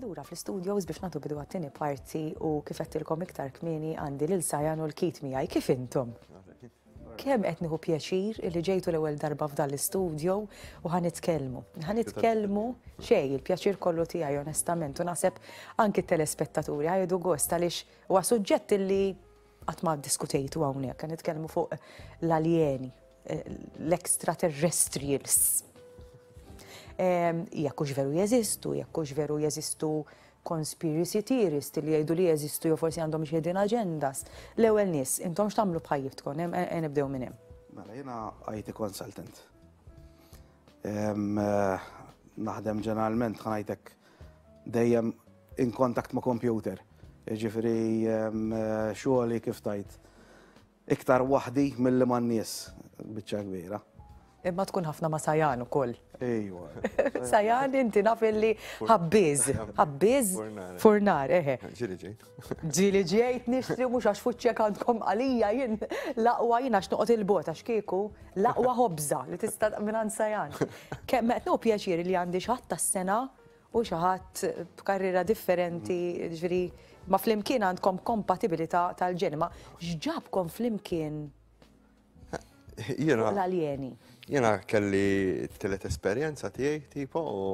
lura fl-studios biex natu bidu għattini parti u kifettilkom iktar kmini għandi l-sajan u l-kit miħaj. Kif intom? Kemm qed nieħu pjaċir li ġejtu l-ewwel darba f'dan l-istudjo u ħa nitkellmu. Ħa nitkellmu xejn il-pjaċir kollu tiegħi onestament u naħseb anki t-telespettaturi ħajdu gost għaliex huwa suġġett li qatt ma ddiskutejtu hawnhekk, ħa nitkellmu fuq l-aljeni, eh, l-extraterrestrials. Ehm, jekk hux veru jeżistu, jekk hux veru jeżistu Conspiracy theorist li jgħidu li jeżistu jew forsi għandhom xi hidden agendas. L-ewwel nies, intom x'tagħmlu b'ħajjitkom? Em- em- Nibdew minn hemm. Mela, jiena IT consultant. Em, eh, Naħdem ġeneralment, ħanajtek dejjem in contact ma' computer. Ġifiri, xogħli kif tajt. Iktar waħdi milli man-nies, biċċa kbira. Imma tkun ħafna ma' Sajan ukoll. Ejwa. Sajan inti naf illi ħabbiż, ħabbiż furnar, eħe. Ġili ġejt. Ġili ġejt nixtri mhux għax fuċċek għandkom għalija jien laqwa jien għax noqgħod il-bot għax kieku laqwa ħobża li tista' minn Sajan. Kemm qed pjaċir li għandi xatt tas-sena u xi ħadd b'karriera differenti, ġifieri ma flimkien għandkom kompatibilità tal-ġeni, ma x'ġabkom flimkien l-aljeni? Jiena kelli t-tielet esperjenza tiegħi tipo u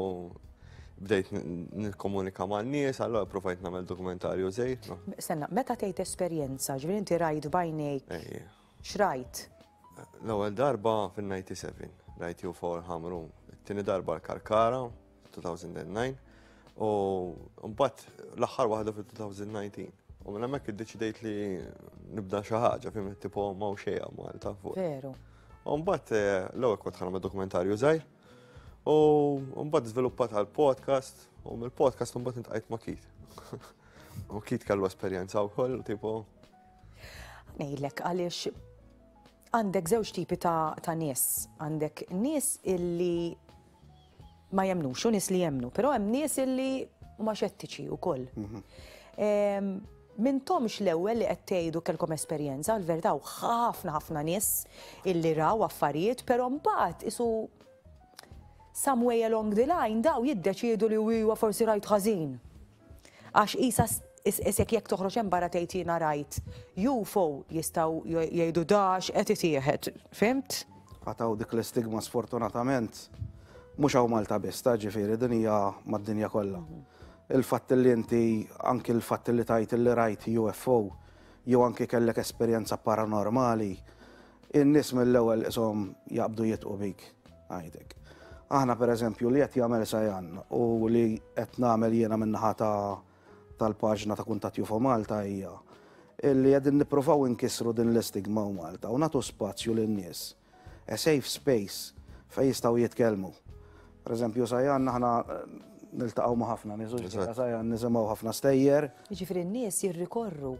bdejt nikkomunika ma' nies, allora provajt nagħmel dokumentarju żejt. Senna, meta tgħid esperjenza, ġifieri inti rajt bajnejk. X'rajt? L-ewwel darba fin-97 rajt ju for ħamru, it-tieni darba l-karkara. 2009 u mbagħad l-aħħar waħda fil-2019. U minn hemmhekk iddeċidejt li nibda xi ħaġa fim tipo ma' xejja Malta fuq. Veru. U mbagħad eh, l-ewwel kont ħanam dokumentarju żgħir. U mbagħad żviluppat għal podcast u mill-podcast mbagħad intqajt ma' Kit. U Kit kellu esperjenza wkoll tipo. Ngħidlek għaliex għandek żewġ tipi ta' nies. Għandek nies illi ma jemnux, u nies li jemnu, però hemm nies illi huma xettiċi wkoll. Mintomx l-ewwel li qed tgħidu kelkom esperjenza, l-verità u ħafna ħafna nies illi raw affarijiet, però mbagħad isu some way along the line daw jiddeċiedu li huwa forsi rajt ħażin. Għax qisha isek jekk toħroġ hemm barra tgħid jiena rajt UFO jistgħu jgħidu dax qed itieħed, fimt? Qatgħu dik l-istigma sfortunatament mhux hawn Malta biss, ta' ġifieri din hija mad-dinja kollha. Mhm. Il-fatt li inti anki l-fatt li tajt li rajt UFO jew anki kellek esperjenza paranormali In-nies mill-ewwel qishom jaqbdu jidhqu bik, ngħidlek. Aħna pereżempju li qed jagħmel Sajan u li qed nagħmel jiena min-naħa tal-paġna ta' Kuntatt UFO Malta hija li qegħdin nippruvaw inkissru din l-istigma u Malta u nagħtu spazju lin-nies. A safe space fejn jistgħu jitkellmu. Pereżempju Sajan aħna niltaqgħu ma' ħafna nies u Sajan nisimgħu ħafna stejjer. Jiġifieri n-nies jirrikorru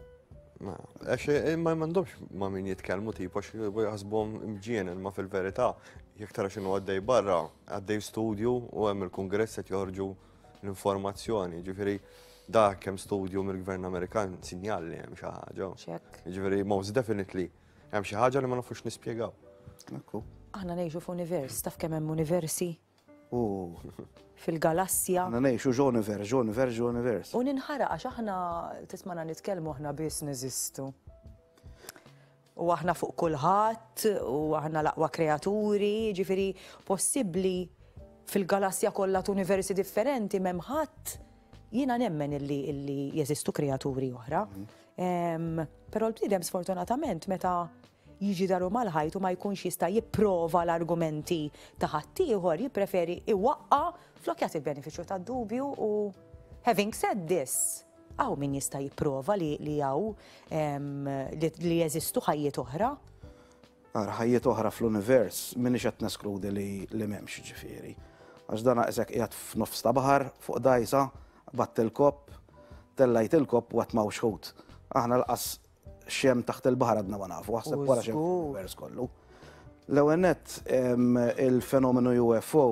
Għax eh, ma mandomx ma min jitkelmu tipu għax jħasbom mġienen ma fil-verita jek tara xinu għaddej barra għaddej studju u għem il-kongress għet joħorġu l-informazzjoni ġifiri da kem studju mill-gvern Amerikan sinjal li hemm xi ħaġa. Ġifiri most definitely hemm xi ħaġa li ma nafux nispjegaw. Aħna ngħixu f'univers, taf kemm hemm universi? fil-galassja. Aħna ngħixu ġ'univer, ġ'univer, ġ'univers. U ninħara għax aħna tismana nitkellmu aħna biss neżistu. U aħna fuq kulħadd, u aħna l-aqwa kreaturi, ġifiri possibbli fil-galassja kollha t'universi differenti m'hemm ħadd jiena nemmen illi illi jeżistu kreaturi oħra. Mhm. Però l-bniedem sfortunatament meta jiġi daru mal-ħajt u ma jkunx jista' jipprova l-argumenti ta' ħaddieħor jippreferi iwaqqa' flok jagħti l-benefiċċju tad-dubju u having said this, hawn min jista' jipprova li li hawn ehm, li jeżistu ħajjiet oħra? Ara ħajjiet oħra fl-univers m'iniex qed neskludi li li m'hemmx ġifieri. Għax dan qisek qiegħed f'nofs ta' baħar fuq dajsa, batt il-kopp, tellajt il-kopp u qed mawx ħut. Aħna l-qas xem taħt il-bahar għadna ma nafu, għasab wara xem vers kollu. L-ewenet il-fenomenu UFO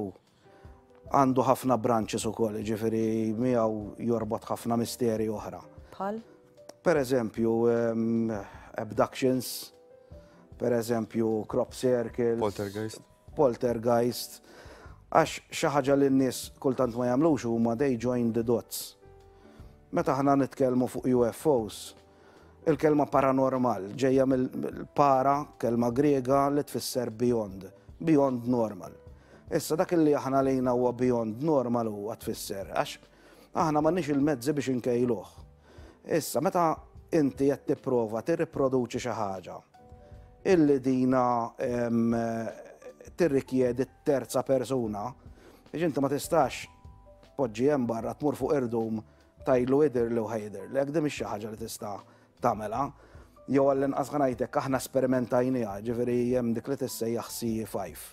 għandu ħafna branches u koll, ġifiri miegħu jorbot ħafna misteri oħra. Pal? Per eżempju, abductions, per eżempju, crop circles. Poltergeist. Poltergeist. Għax xaħġa li n-nis kultant ma jamlux huma they join the dots. Meta ħna nitkellmu fuq UFOs, Il-kelma paranormal ġejja mill-para, kelma Griega li tfisser beyond, beyond normal. Issa dak li aħna lejna huwa beyond normal huwa tfisser, għax aħna m'għandniex il-mezzi biex inkejluh. Issa meta inti qed tipprova tirriproduċi xi ħaġa illi dina tirrikjedi terza persuna, biex inti ma tistax poġġi hemm barra tmur fuq irdum Tgħidlu idhirli u ħa jidhirlek, din mhix xi ħaġa li tista' tagħmilha. Jew għall-inqas ħa ngħidlek aħna sperimentajniha, ġifieri hemm dik li tissejjaħ CE5.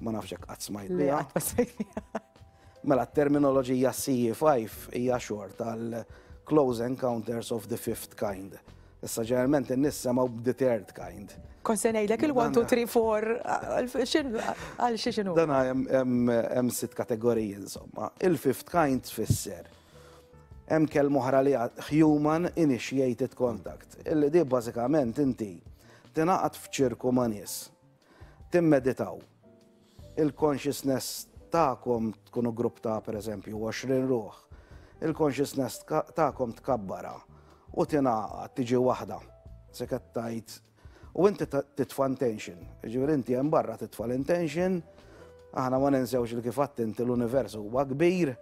Ma nafx hekk qatt smajt biha. Mela t-terminoloġija CE5 hija xorta għal close encounters of the fifth kind. Issa ġeneralment in-nies semgħu b'deterred kind. Kont se ngħidlek il-one, two, three, four, għal xi x'inhu. Dan hemm sitt kategoriji insomma. Il-fifth kind tfisser hemm kelma oħra li human initiated contact, illi di bażikament inti tingħaqad f'ċirku ma' nies timmeditaw. Il-consciousness tagħkom tkunu grupp ta' pereżempju 20 ruħ. Il-consciousness tagħkom tkabbara u tingħaqa tiġi waħda. Se tajt u inti titfa' intention. Ġifieri inti hemm barra titfa' l-intention, aħna ma ninsewx li kif inti l-univers huwa kbir,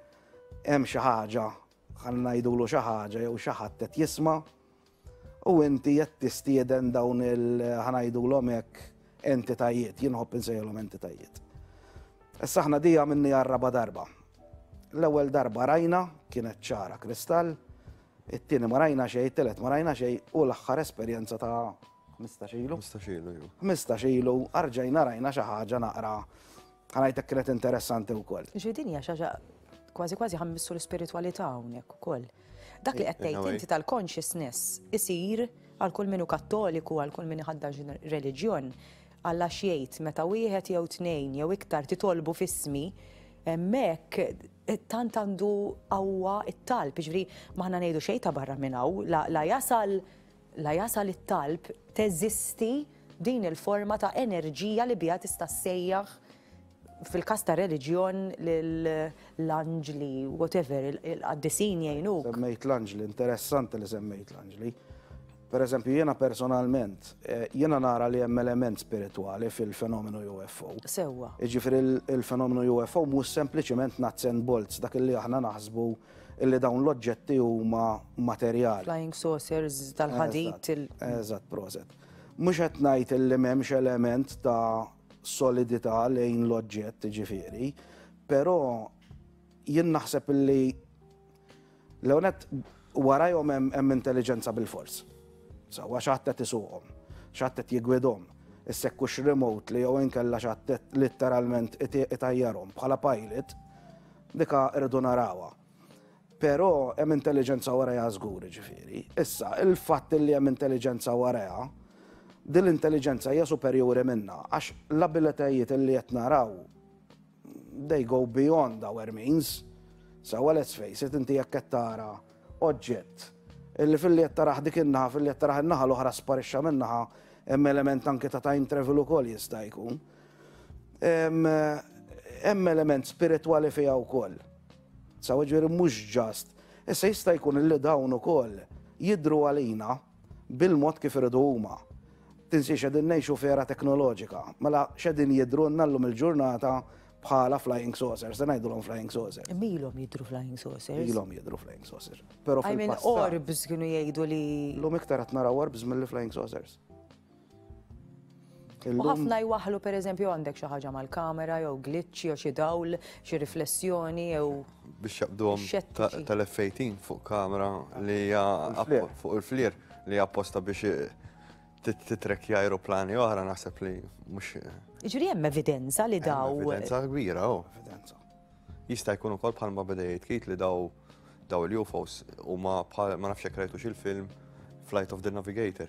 hemm xi ħaġa ħan ngħidulu xi ħaġa jew xi ħadd qed jisma' U inti qed tistieden dawn il ħa ngħidulhom hekk entitajiet, jien ħobb insejħilhom entitajiet. Issa aħna di għamilni għarraba darba. L-ewwel darba rajna kienet ċara kristall, it-tieni ma rajna xejn, it-telet ma rajna xejn u l-aħħar esperjenza ta' 15 ilu. 15 ilu, 15 ilu, arġajna rajna xi ħaġa naqra Għalajtek kienet interessanti u koll. Ġi din hija xaġa kważi kważi ħammissu l-spiritualità hawnhekk ukoll. Dak li qed tgħid inti tal-consciousness isir għal kull minu kattoliku għal kull min iħaddax reliġjon għalla xiejt meta wieħed jew tnejn jew iktar titolbu fismi mek tant għandu għawwa it-talb, ġviri maħna nejdu xej ta' barra minnaw, la jasal la jasal it-talb, teżisti din il-forma ta' enerġija li biha tista' ssejjaħ fil-każ ta' reliġjon l-anġli, whatever, il-qaddisin jgħinuk. Semmejt l-anġli, interessanti li semmejt l-anġli. Per eżempju, jiena personalment, eh, jiena nara li hemm element spiritwali fil-fenomenu UFO. Sewwa. Iġifir il-fenomenu UFO mhux sempliċement nuts and bolts, dak li aħna naħsbu illi dawn l-oġġetti huma materjali. Flying saucers tal-ħadid. Eżatt, proset. Mhux qed ngħid illi m'hemmx element ta' solidità lejn l-oġġett ġifieri, però jien naħseb illi l-ewnet warajhom hemm intelliġenza bil-fors. Sawa x'għadd qed isuqhom, x'għadd qed jigwidhom, issekkux remotely jew inkella x'għadd letteralment itajjarhom bħala pilot Dika irridu narawha. Però hemm intelliġenza warajha żgur ġifieri. Issa, il-fatt li hemm intelliġenza warajha, din l-intelliġenza hija superjuri minna, għax l-abilitajiet li qed naraw they go beyond our means. Sawa let's face it, inti jekk qed tara oġġett illi fil-li qed taraħ dik in-naħa, fil-li qed taraħ in-naħa l-oħra sparixxa min-naħa, hemm element anke ta' time travel ukoll jista' jkun. Hemm element spiritwali fiha wkoll. Sa ġifieri mhux ġast. Issa jista' jkun li dawn ukoll jidru għalina bil-mod kif iridu huma. Tinsiex qegħdin ngħixu f'era teknoloġika, mela x'qegħdin jidhrulna llum il-ġurnata bħala flying saucers, se ngħidulhom flying saucers. Imma ilhom jidhru flying saucers. Ilhom jidhru flying saucers. Però fil-passat. I mean orbs kienu jgħidu li. Llum iktar qed naraw orbs milli flying saucers. U ħafna jwaħħlu pereżempju għandek xi ħaġa mal-kamera jew glitch jew xi dawl, xi riflessjoni jew biex jaqbduhom Xettiċi. tal-F18 fuq kamera li hija Il-flir. appo- fuq il-flir li hija apposta biex tit- titrekkja aeroplani oħra naħseb li mhux Ġifieri hemm evidenza li daw. hemm evidenza kbira oh. Evidenza. Jista' jkun ukoll bħalma beda jitkit li daw daw il-UFOs huma bħal ma nafx jekk rajtux il-film Flight of the Navigator.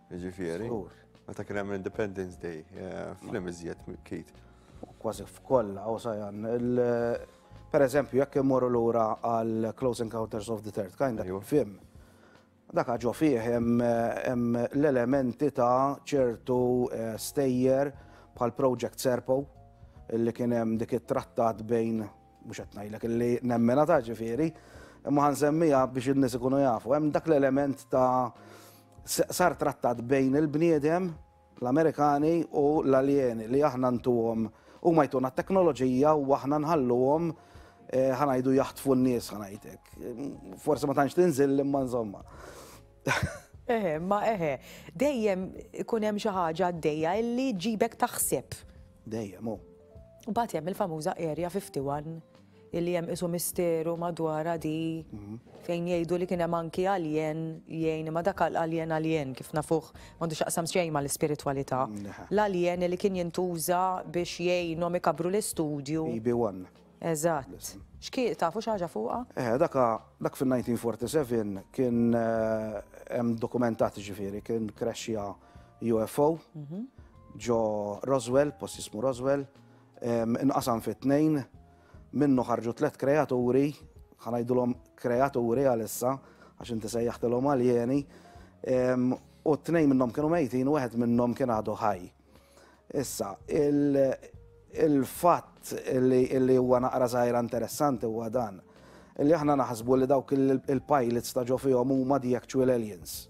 Jiġifieri. Żgur. Meta kien hemm Independence Day, eh, flim iżjed kit. Kważi f'kollha u sajan. Per eżempju, jekk immorru lura għal Close Encounters of the Third Kind, dak film. Dak ġo fih hemm l-elementi ta' ċertu eh, stejjer bħal Project Serpo, li kien hemm dik it-trattat bejn Mhux qed ngħidlek illi nemmenha ta' ġifieri, imma ħa nsemmiha biex in-nies ikunu jafu. Hemm dak l-element ta' sar trattat bejn il-bniedem, l-Amerikani u l-aljeni li aħna ntuhom huma jtuna t-teknoloġija u aħna nħalluhom eh, ħanajdu jaħtfu n-nies ħanajtek. Forsi ma tantx tinżil imma insomma. Eħe, ma eħe, dejjem ikun hemm xi ħaġa għaddejja illi ġibek taħseb. Dejjem, oh. U bat jem il-famuża Area 51 illi jem isu misteru madwar di mhm. fejn jgħidu li kienem anki alien jgħin ma dak alien alien kif nafuħ mandu xaqsam xejn ma l-spiritualita. L-alien li kien jintuża biex jgħinom ikabru l-istudju. EB1. Eżatt. Xki tafu xaġa fuqa? Eh, daka, dak fil-1947 kien eh, hemm dokumentat ġifiri, kien crashja UFO. Mhm. ġo Roswell, post jismu Roswell, inqasam fi tnejn, minnu ħarġu tlet kreaturi, ħanajdulhom kreaturi għalissa, għax inti sejjaħtilhom għaljeni, u t-tnejn minnhom kienu mejtin u wieħed minnhom kien għadu ħaj. Issa, il-fatt li huwa naqra żgħira interessanti huwa dan, li aħna naħsbu li dawk il-pilots ta' ġo fihom huma the actual aliens.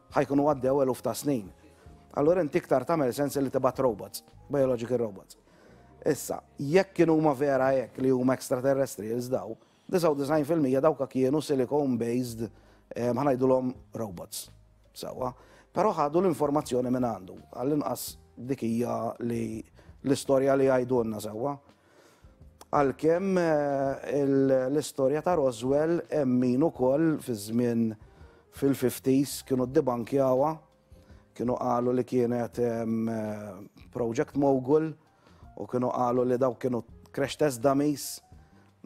Ħa jkunu għaddew eluf ta' snin. Allura inti iktar tagħmel sens li tibgħat robots, biological robots. Issa, jekk kienu huma vera hekk li huma extraterrestrials daw, 99% dawka kienu silicone based eh, ħanajdulhom robots. Sawa. Però ħadu l-informazzjoni minn għandu, għall-inqas dikija li l-istorja li għajdunna sawa. Għalkemm l-istorja ta' Roswell hemm min ukoll fiż-żmien fil-fifties kienu ddibankjawha, kienu qalu li kienet project mogul u kienu qalu li dawk kienu crash test dummies.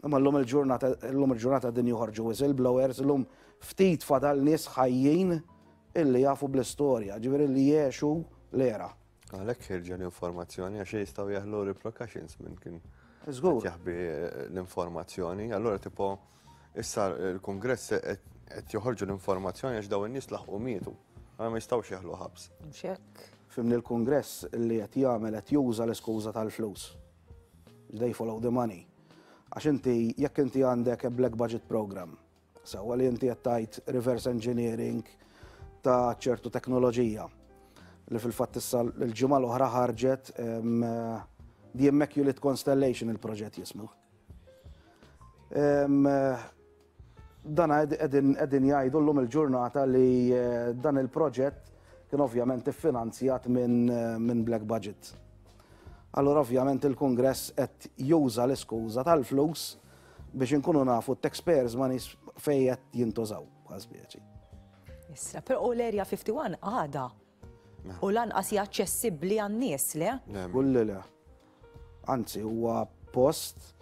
Imma llum il-ġurnata llum il-ġurnata qegħdin joħorġu whistleblowers, illum ftit fadal nies ħajjin illi jafu bl-istorja, jiġifieri li jgħexu l-era. Għalhekk ħirġu l-informazzjoni għax jistgħu jaħlu repercussions minn kien jaħbi l-informazzjoni. Allura tipo issa l-Kongress qed joħorġu l-informazzjoni għax daw in-nies laħqu mietu. Ma jistgħux jaħlu ħabs. Xek. Fimni l-Kongress li qed jagħmel qed juża l-iskuża tal-flus. They follow the money. Għax inti jekk inti għandek black budget program Sewwa li inti qed tgħid reverse engineering ta' ċertu teknoloġija li fil-fatt issa l-ġimgħa l-oħra ħarġet The Immaculate Constellation il-proġett jismu. Dan qegħdin jgħidu llum il-ġurnata li eh, dan il-proġett kien ovvjament iffinanzjat minn Black Budget. Allora ovvjament il-Kongress qed juża l-iskuża tal-flus biex inkunu nafu t-tax pairs ma nis fejjet jintużaw bħal spieċi. Issa, per u l-erja 51 għada u lanqas hija aċċessibbli għan-nies, le? Kulli le. Anzi, huwa post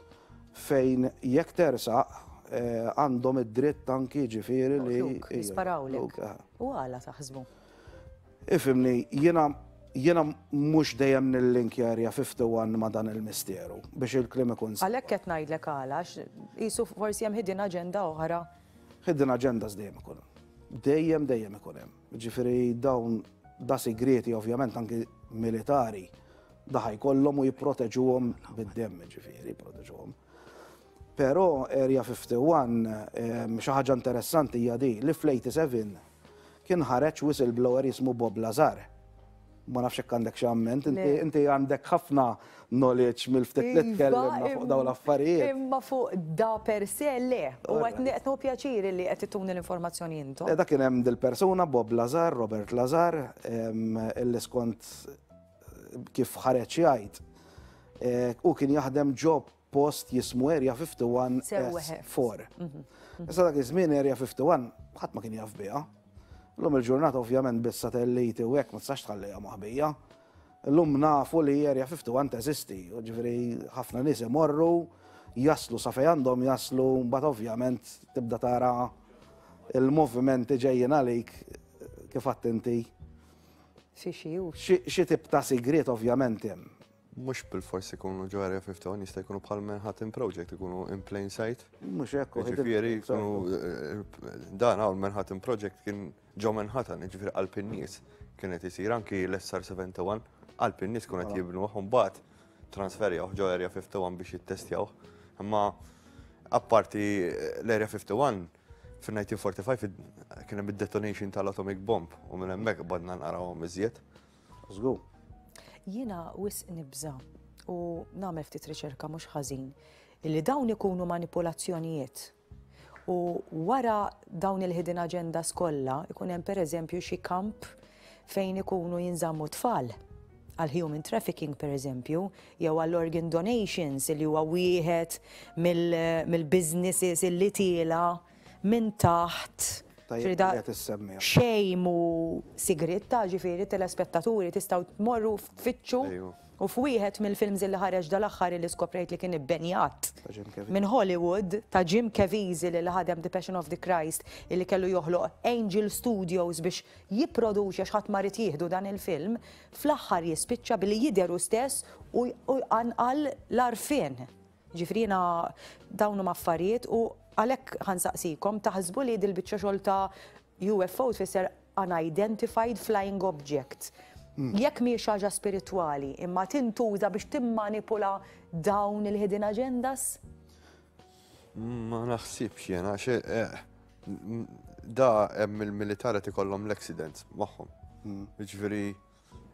fejn jekk tersa eh, għandhom id-dritt anki ġifieri li. Jisparawlek. U għala taħsbu. Ifhimni, jiena jiena mhux dejjem nillinkjarja fifty-one ma' dan il-misteru, biex il-kliem ikun sewwa. Għalhekk qed ngħidlek għala, għax qisu forsi hemm hidden agenda oħra. Hidden agendas dejjem ikun hemm. Dejjem, dejjem ikun hemm. Jiġifieri dawn da sigrieti ovvjament anki militari da ħa jkollhom u jipproteġuhom bid-demm jiġifieri jipproteġuhom. Però Area 51 xi ħaġa interessanti hija din li fl-87 Kien ħareġ whistleblower jismu Bob Lazar. Ma nafx hekk għandek xi amment, inti għandek ħafna knowledge mill-ftit li tkellimna iva, fuq dawn l-affarijiet. Imma fuq da per se le, u qed neqtnu pjaċiri li qed tuni l-informazzjoni intom. Eh, da kien hemm dil-persuna Bob Lazar, Robert Lazar, illi skont kif ħareġ jgħid. Eh, u kien jaħdem ġob post jismu Area 51 S4. Issa dak iż-żmien Area 51 ħadd ma kien jaf biha. Illum il-ġurnata ovvjament bis-satelliti u hekk ma tistax tħallejha maħbija. Illum nafu li Area 51 teżisti, ġifieri ħafna nies imorru jaslu sa fejn għandhom jaslu mbagħad ovvjament tibda tara il-movimenti ġejjin għalik kif għattinti. Xi xi tibta sigriet ovvjament hemm. Mhux bilfors ikunu ġo Area 51, jista' jkunu bħal Manhattan Project, ikunu in plain sight. Mhux hekk u Ġifieri jkunu eh, dan hawn Manhattan Project kien ġo Manhattan, ġifieri qalb in-nies kien qed isir anki l-SR 71 qalb in-nies kien qed jibnu u mbagħad transferjaw ġo Area 51 biex jittestjaw. Imma apparti eh, l-Area 51 fin-1945 kien hemm id-detonation tal-atomic bomb u minn hemmhekk badna narawhom iżjed. Żgur. Jiena wisq nibża' u nagħmel ftit riċerka mhux ħażin li dawn ikunu manipulazzjonijiet. U wara dawn il-hidden agendas kollha ikun hemm pereżempju xi kamp fejn ikunu jinżammu tfal għal human trafficking per eżempju, jew għall organ donations li huwa wieħed mill-businesses mill li tiela minn taħt frida xejn mhu sigritta, ġifieri telespettaturi tistgħu tmorru f'fittxu u f'wieħed mill-films li ħareġ dal-aħħar li skoprejt li kien ibbenjat minn Hollywood ta' Jim Caviezel li ħadem The Passion of the Christ li kellu joħloq Angel Studios biex jipproduċi għax ħadd marid jieħdu dan il-film fl-aħħar jispiċċa billi jidheru stess u jqanqal l-arfien. Ġifieri jiena dawn huma affarijiet u għalhekk ħa nsaqsikom taħsbu li dil-biċċa xogħol ta' UFO tfisser unidentified flying object. Jekk mhijiex xi ħaġa spiritwali, imma tintuża biex timmanipula dawn il-hidden agendas? Ma naħsibx jiena għax eh, m- da hemm il-militar qed ikollhom l-accidents magħhom. Jiġifieri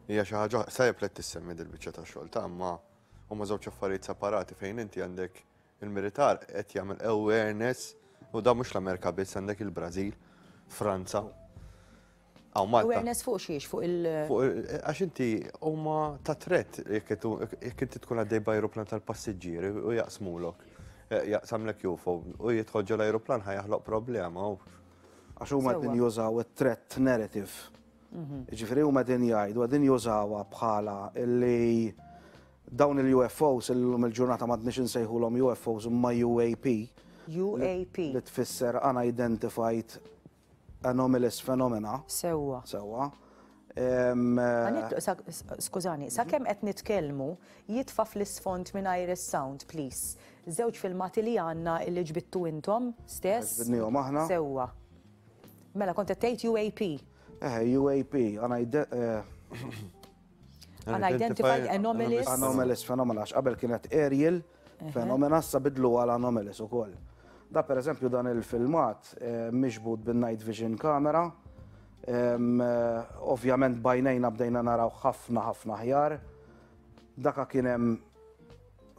hija xi ħaġa sajb li qed tissemmi dil-biċċa ta' xogħol ta' imma Huma żewġ affarijiet separati fejn inti għandek il-militar qed jagħmel awareness u da mhux l-Amerika biss għandek il-Brażil, Franza. Aw Malta. Awareness fuq xiex, fuq il- eh, Għax inti huma ta' tret jekk inti tkun għaddej b'ajruplan tal-passiġġieri u jaqsmulok. Eh, jaqsamlek jufo u jidħol ġol ajruplan ħajaħloq problema. Għax huma qed jużaw it-tret narrative Jiġifieri huma qegħdin jgħidu, qegħdin jużawha bħala li dawn il-UFOs illum il-ġurnata m'għadniex insejħulhom UFOs imma UAP. UAP. Li tfisser unidentified anomalous phenomena. Sewwa. Sewwa. Skużani, sa kemm qed nitkellmu jitfa' fl-isfond mingħajr is-sound, please. Żewġ filmati li għandna li ġbittu intom stess. Ġbidnihom aħna. Sewwa. Mela, kont qed tgħid UAP. Eh, UAP, Unidentified eh, Anomalous. Anomalous Phenomena, qabel kienet Aerial Phenomena, sa bidlu għal Anomalous u koll. Da per eżempju dan il-filmat eh, miġbud bin night vision kamera, ovvjament bajnejna bdejna naraw ħafna ħafna ħjar, daka kienem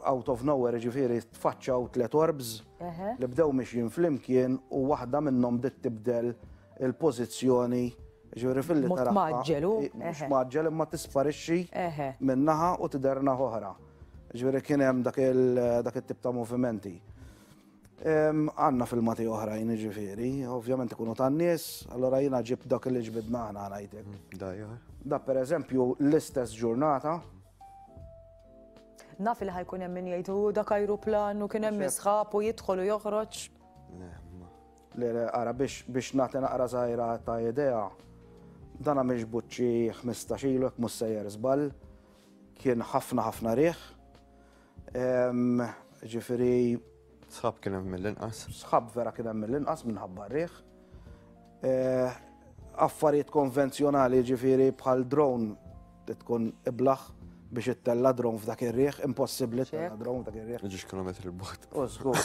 out of nowhere ġifiri tfaċċaw tlet orbs li bdew mixjin flimkien u waħda minnhom bdiet tibdel il-pożizzjoni ġifiri fil-li tara. Maġġelu. Maġġel imma tisparixxi minnaħa u tiderna oħra. Ġifiri kien hemm dak il-tip ta' movimenti. Għanna fil-mati oħrajn ġifiri, ovvjament ikunu tan-nies, allora jina ġib dak li ġbidna għana għanajtek. Da per eżempju l-istess ġurnata, Naf li ħajkun hemm min jgħidu dak ajruplan u kien hemm misħab u jidħol u joħroġ. Le, le, ara biex nagħti naqra żgħira ta' idea, dan għamilx buċċi 15 ilu jekk mhux sejjer żball, kien ħafna ħafna riħ. Ġifieri Sħab kien hemm mill-inqas. Sħab vera kien hemm mill-inqas minħabba r-riħ. Eh, affarijiet konvenzjonali ġifiri bħal drone li tkun iblaħ biex ittella drone f'dak ir-riħ, impossibbli tella drone f'dak ir-riħ. Ġiex kilometri l-bot. Użgur,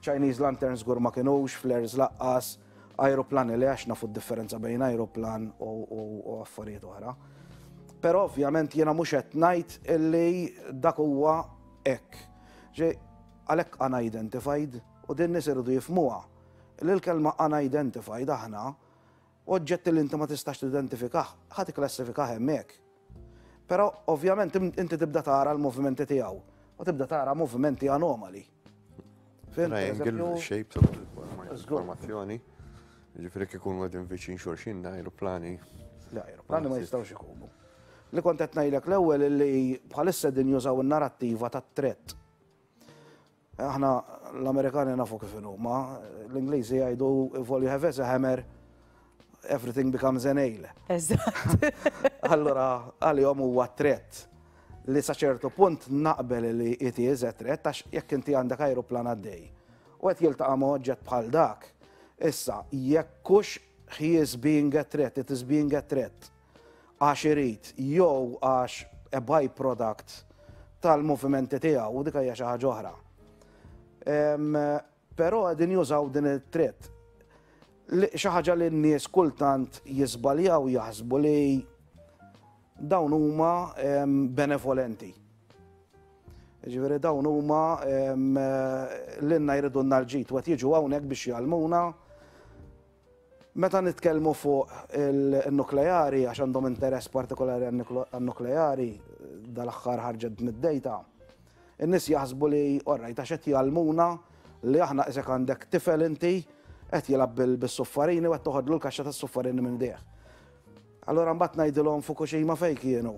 Chinese lanterns gur ma kienux, flares laqqas, aeroplan li għax nafu differenza bejn aeroplan u affarijiet oħra. Pero ovvjament jiena mhux qed ngħid illi dak huwa hekk. Għalhekk unidentified, u din nies iridu jifhmuha, li l-kelma unidentified aħna, oġġetti li inti ma tistax tidentifikah, ħa tikklassifikah hemmhekk. Però ovvjament inti tibda tara l-movimenti tiegħu u tibda tara movimenti anomali. Triangle shape informazzjoni. Ġifieri kif ikunu qegħdin viċin xulxin da ajruplani. Da ajruplani ma jistgħux ikunu. Li kont qed ngħidlek l-ewwel li bħalissa din jużaw in-narattiva tat-tret Aħna l-Amerikani nafu kif huma, l-Ingliżi jgħidu if all you have is a hammer, everything becomes a nail. Eżatt. Allura għalihom huwa tret li sa ċertu punt naqbel li it is a threat għax jekk inti għandek ajruplan għaddej. U qed jiltaqa' ma' oġġett bħal dak. Issa, jekkux he is being a threat, it is being a threat. għax irid jew għax a by-product tal-movimenti tiegħu u dik hija xi ħaġa oħra. Però qegħdin jużaw din it-tritt. Xi ħaġa li n-nies kultant jiżbaljaw jaħsbu li dawn huma benevolenti. Ġifieri dawn huma l-inna jridu n-nalġit, wet jiġu hawnhekk biex jgħalmuna Meta nitkellmu fuq in-nukleari, għax għandhom interess partikolari għan-nukleari, dal-aħħar ħarġet din id-dejta, in-nies jaħsbu li all right għax qed jgħallmuna li aħna qisek għandek tifel inti qed jilgħab bis-suffarini u qed toħodlu l-kaxxa tas-suffarini minn jdejh. Allura mbagħad ngħidilhom Fukushima fejn kienu?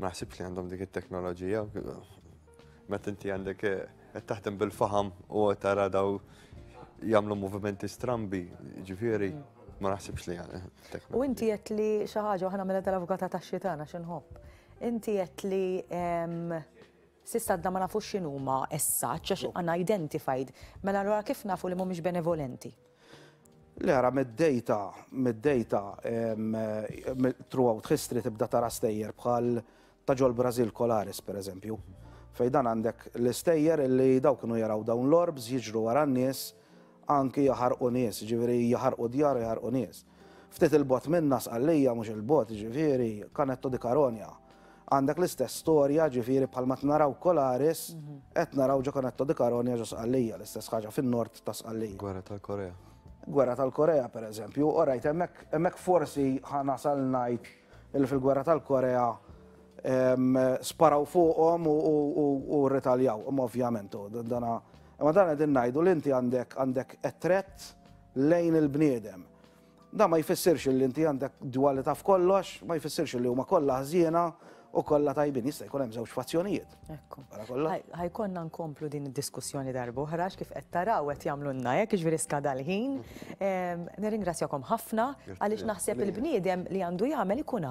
Ma naħsibx li għandhom dik it-teknoloġija. Meta inti għandek qed taħdem bil-faham u tara daw jagħmlu movimenti strambi, ġifieri ma naħsibx li għandek. Eh, u inti qed li xi ħaġa aħna mela tal-avukata tax-xitana x'inħobb. Inti qed li Sissa da ma nafux x'inhuma essaċ għax għandna identified. Mela allura kif nafu li mhumiex benevolenti? Le ara mid-dejta, mid-dejta throughout history tibda tara stejjer bħal ta' ġol-Brażil Colares pereżempju, fejn dan għandek l-istejjer li dawk kienu jaraw dawn l-orbs jiġru wara n-nies anki jaħarqu nies, jiġifieri jaħarqu djar u jaħarqu nies. Ftit il-bogħod minna, Sqallija, mhux il-bogħod, ġifieri, Canetto di Caronia. Għandek l-istess storja, ġifieri bħal ma naraw Kolaris, qed naraw ġo Canetto di Caronia ġo Sqallija, l-istess ħaġa fin-nord ta' Sqallija. Gwerra tal-Korea. Gwerra tal-Korea, per eżempju, orajt, hemmhekk forsi ħanasal ngħid li fil-Gwerra tal-Korea sparaw fuqhom u rritaljaw, imma ovvjament, dana. Imma dan qegħdin ngħidu li inti għandek għandek qed lejn il-bniedem. Dan ma jfissirx li inti għandek dwalità f'kollox, ma jfissirx li huma kollha ħżiena u kollha tajbin jista' jkun hemm żewġ fazzjonijiet. Ekku. Ħajkonna nkomplu din id-diskussjoni darba oħra kif qed taraw qed jagħmlu lna hekk jiġri skada l-ħin. Nirringrazzjakom ħafna għaliex naħseb il-bniedem li għandu jagħmel ikun